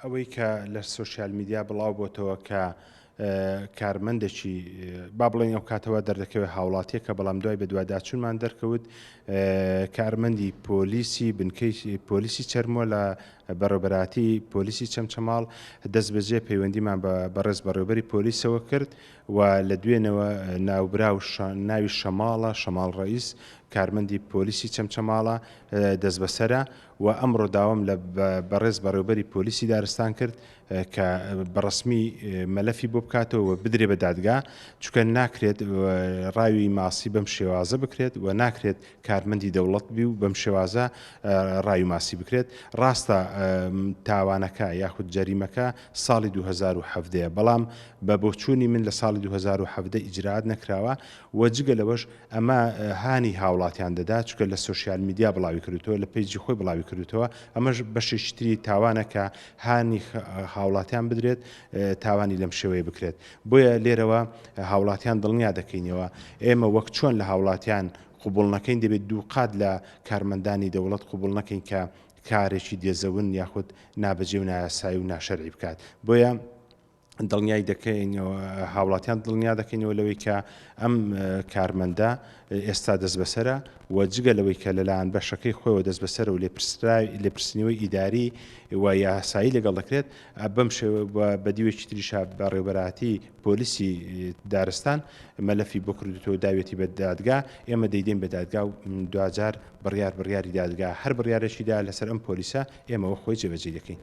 ئەوەی کە لە سۆشیال میدیا بڵاو بۆتەوە کە کارمەندێکی با بڵێن ئەو کاتەوە دەردەکەوێت هاوڵاتیەکە بەڵام دوای بە دواداچونمان دەرکەوت کارمەندی پۆلیسی بنکەی پۆلیسی چەرمۆ لە بەڕێبەراتی پۆلیسی چەمچەماڵ دەست بەجێ پەیوەندیمان بە بەڕێز بەڕێبەری پۆلیسەوە کرد و لە دوێنەوە ناوبرا و ناوی شەماڵە شەماڵ ڕئیس کارمەندی پۆلیسی چەمچەماڵە دەست بەسرە و ئەمڕۆ داوام لە بەڕێز بەڕێوبەری پۆلیسی دارستان کرد کە بەڕسمی مەلەفی بۆ بکاتەوە و بدرێ بە دادگا چکە ناکرێت ڕاوی ماسی بەم شێوازە بکرێت و ناکرێت کارمەندی دەوڵەت بی و بەم شێوازە ڕاوی ماسی بکرێت ڕاستە تاوانەکە یاخود جەریمەکە ساڵی 2017 بەڵام بە بۆچوونی من لە ساڵی 2017 ئیجرات نەکراوە و جگە لەوەش ئەمە هانی هاوڵاتیان دەدا چونکە لە سۆشیال میدیا بڵاوی کردوتەوە لە پەیجی خۆی بڵاوی کردوتەوە ئەمەش بەشێکی تری تاوانە کە هانی هاوڵاتیان بدرێت تاوانی لەم شێوەیە بکرێت بۆیە لێرەوە هاوڵاتیان دڵنیا دەکەینەوە ئێمە وەک چۆن لە هاوڵاتیان قوبول نەکەین دەبێت دوو قات لە کارمەندانی دەوڵەت قوبول نەکەین کە کارێکی دێزەون یاخود نابەجێ و نایاسایی و ناشەرعی بکات بۆیە دڵنیای دەکەین و هاوڵاتیان دڵنیا دەکەینەوە لەوەی کە ئەم کارمەندە ئێستا دەست بەسرە و جگە لەوەی کە لەلایەن بەشەکەی خۆیەوە دەست بەسەر و لێپرسنەوەی ئیداری و یاسایی لەگەڵ دەکرێت بەم شێوە بە دیوێکی تریشا بەڕێبەراتی پۆلیسی دارستان مەلەفی بۆ کردوتەوە داوێتی بە دادگا ئێمە دەیدەین بە دادگا و دوجار بڕیار بڕیاری دادگا هەر بڕارێکیدا لەسەر ئەم پۆلیسە ئێمەوە خۆی جێبەجێ دەکەین